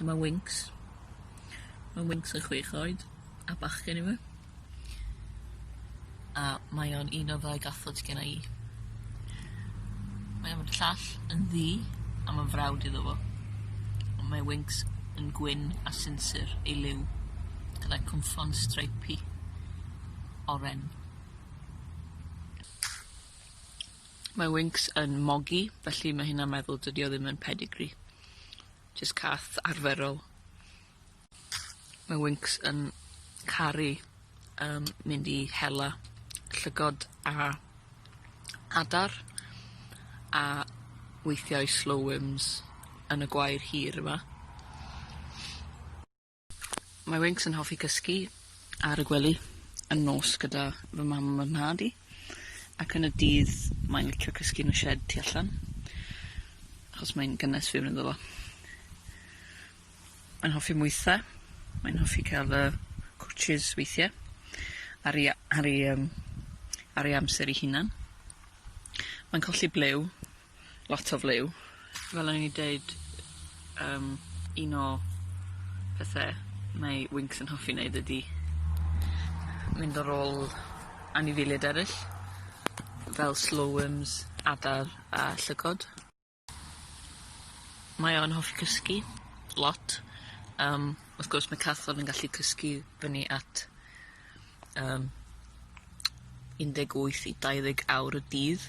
Dyma Winks. Mae Winks yn chwech oed a bachgen yma. A mae o'n un o ddau gathod sydd gen i. Mae o'n llall yn ddi a mae'n frawd iddo fo. Ond mae Winks yn gwyn a sinsir ei liw gyda cwmffon streipi oren. Mae Winx yn mogi, felly mae hynna'n meddwl dydy o ddim yn pedigree. Jyst cath arferol. Mae Winx yn caru um, mynd i hela llygod a adar a weithiau slow wims yn y gwair hir yma. Mae Winx yn hoffi cysgu ar y gwely yn nos gyda fy mam a fy nhad i, ac yn y dydd mae'n licio cysgu yn y shed tu allan, achos mae'n gynnes fewn ynddo fo. Mae'n hoffi mwytha, mae'n hoffi cael y cwtshys weithiau, ar ei, ar ei, um, ar ei amser ei hunan. Mae'n colli blew, lot o fliw. Fel o'n i'n deud yym un o pethe mae Winks yn hoffi neud ydi mynd ar ôl anifeiliaid eryll fel slow worms, adar a llygod. Mae o yn hoffi cysgu lot yym wrth gwrs mae Cathlon yn gallu cysgu fyny at yym 18 i 20 awr y dydd.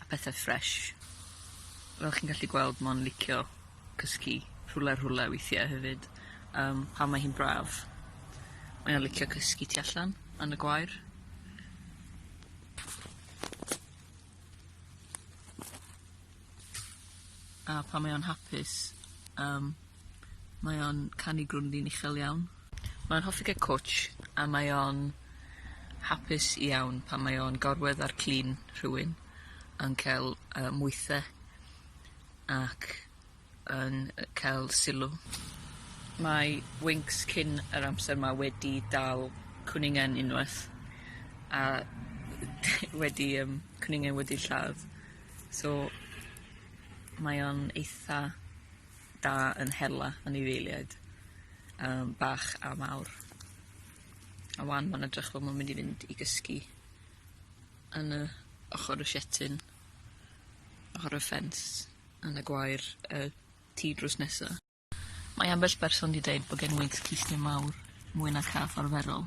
a pethe ffresh. Fel chi'n gallu gweld ma'n licio cysgu rhwle a rhwle weithie hefyd yym pan mae hi'n braf. Mae o'n licio cysgu tu allan yn y gwair. A pan mae o'n hapus yym mae o'n canu grwndin uchel iawn. Mae'n hoffi cael cwtsh a mae o'n hapus iawn pan mae o'n gorwedd ar clun rhywun yn cael yy mwythe ac yn yy cael sylw. Mae Winx cyn yr amser 'ma wedi dal cwningen unwaith a wedi yym cwningen wedi lladd so mae o'n eitha da yn hela anifeiliaid yym bach a mawr. A wan ma'n edrych fel ma'n mynd i fynd i gysgu yn y ochor y sietin ochor y ffens yn y gwair y tŷ drws nesa. Mae ambell berson 'di deud bo' genwynt clustiau mawr mwy na cath arferol.